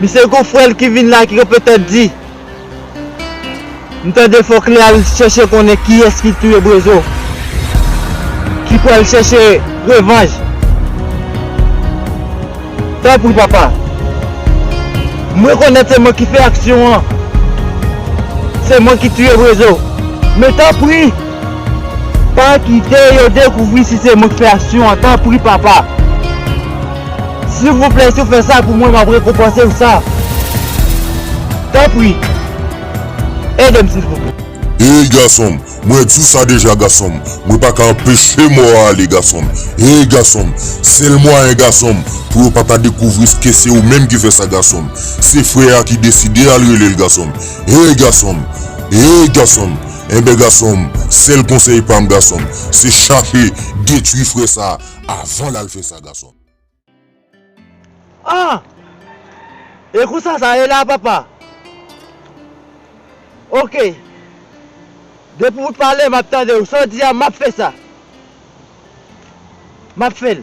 Misye gon frèl ki vin la ki ka petèt di m tande fòk li al chèche konnen kiyès ki touye Brezo ki pral chèche revanj tanpri papa m rekonèt se mwen ki fè aksyon an se mwen ki touye Brezo men tanpri Pa kite yo dekouvri si se mwen ki fè aksyon an tanpri papa silvouplè si ou fè sa pou mwen map rekonpanse ou sa tanpri edem silvouplè. Hey gasonm mwen t sou sa deja gasonm mwen paka anpeche mò a ale gasonm hey gasonm sèl mwayen gasonm pou yo paka dekouvri ske se ou menm ki fè sa gasonm se frè a ki deside al relel gasonm hey gasonm hey gasonm Enben gasonm sel konsey pam gasonm se chache detwi fre sa avan lal fe sa gasonm. Ah! E konsa sa ye la papa? Ok. Depi ou pale map tandew, sa w di a map fè sa. Map fè l.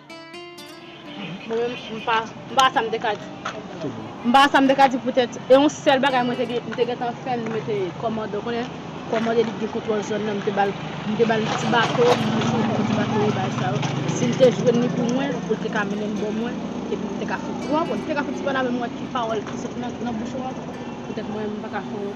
Mwen menm m pa m pa wè sa m te ka di. M pa wè sa m te ka di poutèt e yon sèl bagay mwen te gen m te gentan fè m mete kòmandan ou konnen kòmandan li t gen kontwòl zòn nan m te ba l m te ba l ti bato m te jwenn l ti bato e bagay sa yo si m te jwenn li pou mwen pou l te ka mennen m bò mwen epi m te ka fout ou konprann m te ka fout sipoz avè m wè ki pawòl ki soti nan bouch ou an poutèt mwen menm m pa ka fè w.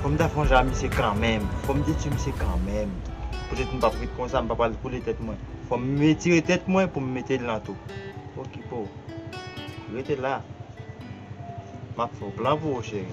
Fòm ta sonje a misye kanmenm, fòm te tue misye kanmenm. Poutèt m pap ret konsa, m pa pral koule tèt mwen. Fòm m retire tèt mwen pou m mete l nan tou. Okipe w. Rete la. Map fè w plan pou ou cheri.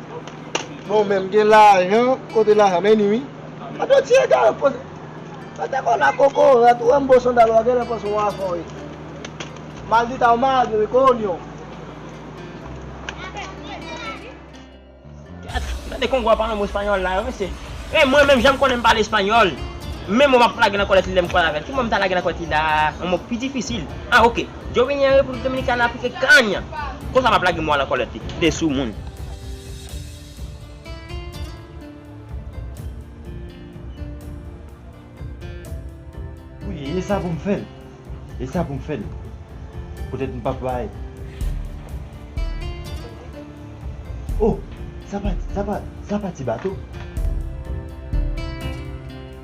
Bon menm gen lajan kote lajan meni wi. An de ti egare poze. Mete kò w la kokorat, ou wè m bo sandal wa genlè panse w on afè w ye. Maldita ou malad vre wi ko onyon. Tande kongo a pa yon mo espanyòl la yo mesye. E mwen menm jan m konnen m pale espanyòl, menm mo m ap lage nan kòlèt li lè m kwaze avè l. Ki mo m ta lage nan kòlèt li la? On mo pi difisil? Ah ok. Yo vini an República Dominicana pike kany. Konsa map lage mwa lan kòlèt li. Kite sou moun. Wi esa poum fèl. Esa poum fèl. Poutèt mpap bay. Oh sa pa sa pa sa pa ti bato.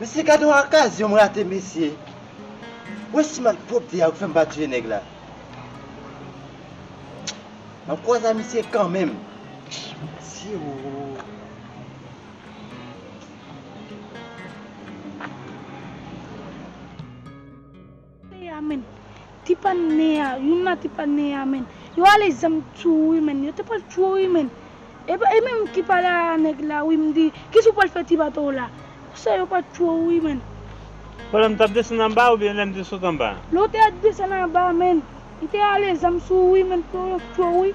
Mesye gad yon akazyon m rate mesye. Wè si malpwopte a yo k fèm pa tiye nèg la. Map kwaze a misye kanmenm. Mesye oo. Nea menn Ti pa nea youn nan ti pa nea menn yo ale zam tou wi menn yo te pral tchwew wi menn epa e menm ki pale a nèg la wi mdi kisa ou pral fè ti bato w la konsa yo pa tchwew wi menn. Pandan m tap desann anba oubyen lèm te sot anba? Lè w te desann anba menn li te ale zam sou ou wi menn pou yo tchwew wi.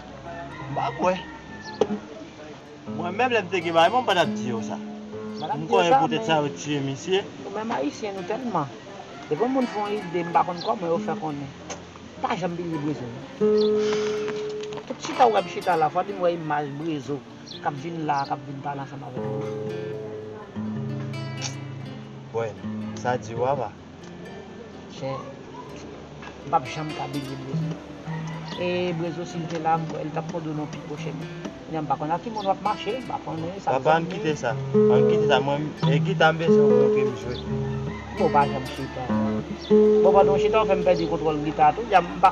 M pa kwè. Mwen menm lè m te gen mari mwen m pa tap di yo sa. M konnen poutèt sa yo tiye misye. Nou menm ayisyen nou tèlman. Depi yon moun fè yon ide m pa konn kòman yo fè konnen. M pa janm bliye Brezo non. Tout chita ou wè m chita la fò di m wè imaj Brezo kap vin la a kap vin pale ansanm avèk nou. Bon, sa di ou apa? Chè M pap janm ka benyen Brezo E Brezo si l te la li tap pwodone w pi pwochen Kounya m pa konn a ki moun wap mache m pa konnen sa Papa ann kite sa Ann kite sa mwen e gita m bezwen w montre m jwe Bon pa janm chita non Bon pandan w chita w fè m pèdi kontwòl gita a tou M pa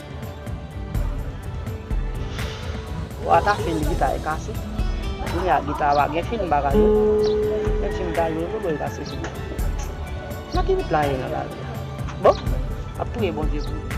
Wa ta fin gita e kase. Kounya gita wa gen fil bagay yo. Gen fil bagay yo tou bel kase fil la. Nan ki wout la ye nan lavi a. Bon map priye Bondye pou nou.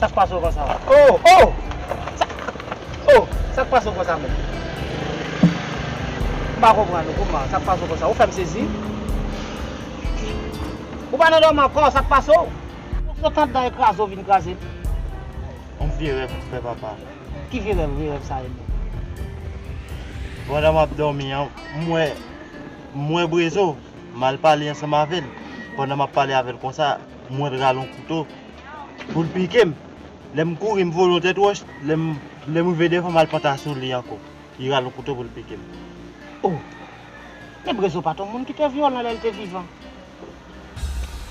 Sak pase w konsa? Oh! Oh! Sak Oh! Sak pase w konsa menm? M pa konprann ou kouman? Sak pase w konsa? Ou fè m sezi. Ou pa nan dòmi ankò? Sak pase w? Ou sot andan e kraze w vin kraze m? On vye rèv ou fè papa. Ki vye rèv? Vye rèv sa e menm? Pandan m ap dòmi an, m wè, m wè Brezo. M al pale ansanm avè l. Pandan m ap pale avè l konsa, m wè l rale yon kouto. pou l pike m. Lè m kouri m vole yon tèt wòch, lè m lè m rive devan m al panta sou li ankò. Li rale yon kouto pou l pike m. O! Men Brezo pa t yon moun ki te vyolan lè l te vivan.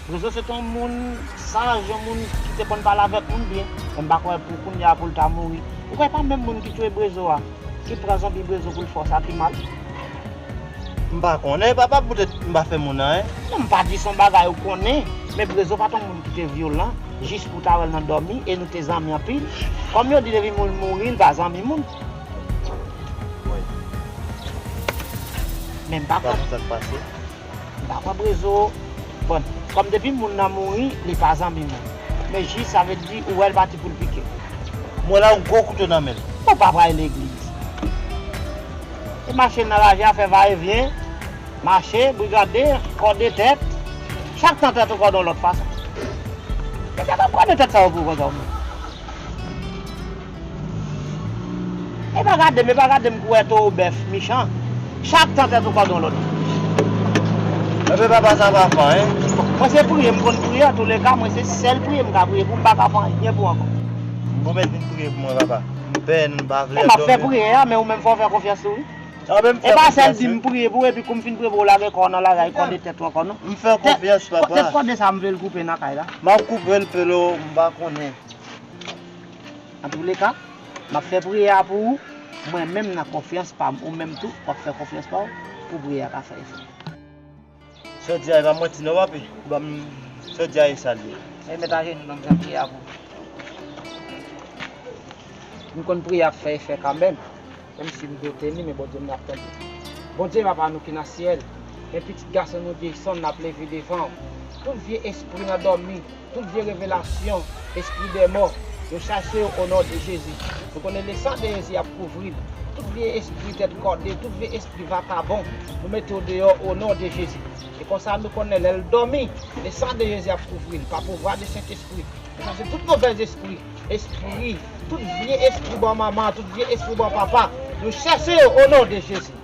Brezo se t yon moun saj, yon moun ki te konn pale avèk moun byen. Men m pa kwè pou kounye a pou l ta mouri. Ou kwè e pa menm moun ki touye Brezo a ki pran zanbi Brezo pou l fè w sa ki mal? M pa konnen papa poutèt m pa fè moun anyen. Non m pa di son bagay ou konnen men Brezo pa t on moun ki te vyolan jis pou w ta wè l nan dòmi e nou te zanmi anpil. Kòm yo di depi moun mouri l pa zanmi moun. Men m pa kwè. Pa konn sa k pase. M pa kwè Brezo bon kòm depi moun nan mouri li pa zanmi moun. Men jis sa vle di ou wè l pati pou l pike. M wè la yon gwo kouto nan men l. Ou pa pral legliz. Se mache nan lavi a fè va e vyen, mache, brigade, kòde tèt, chak tan tèt ou kòde yon lòt fason. Se tèt ap kòde tèt sa yo pou ou konsa ou menm. E pa gade m, e pa gade m kou wè towo bèf michan, chak tan tèt ou kòde yon lòt. Anpè papa sa pa fò hein. Mwen se priye m konn priye antoulèka mwen se sèl priye m ka priye pou m pa ka fè anyen pou ankò. Bon mèt vin priye pou mwen papa. Pen m pa vle anpil. Map fè priyè a men ou menm fòw fè konfyans tou wi. E pa sèl dim priye pou epi koum fin priye pouw lage kòw nan lagay kòde tèt ou ankò non. M fèw konfyans papa. Tèt kòde sa m vlel koupe nan kay la. Map koupel pelo m pa konnen. Antouleka map fè priyè a pou ou mwen menm nan konfyans pam ou menm tou wap fè konfyans paw pou priyè a ka fè efè. Sè Diaye pa manti non papi banm sè Diaye sa li ye. Mwen met ajenou nan janm ye a pou m konn priyè ap fè efè kanmenm menm si m dote li men Bondye m nan ap tande Bondye papa nou ki nan syèl men pitit gason nou Jayson ap leve devanw tout vye espri nan dòmi Tout vye revelasyon espri dèmò yo chache yo o non de Jezi nou konnen le san de Jezi ap kouvril tout vye espri tèt kòde tout vye espri vakabon nou mete yo deyò o non de Jezi e konsa nou konnen lèl dòmi le san de Jezi ap kouvril pa pouvwa de sentespri nou chache tout movèz espri espri tout vye espri bò manman tout vye espri bò papa nou chache yo o non de Jezi.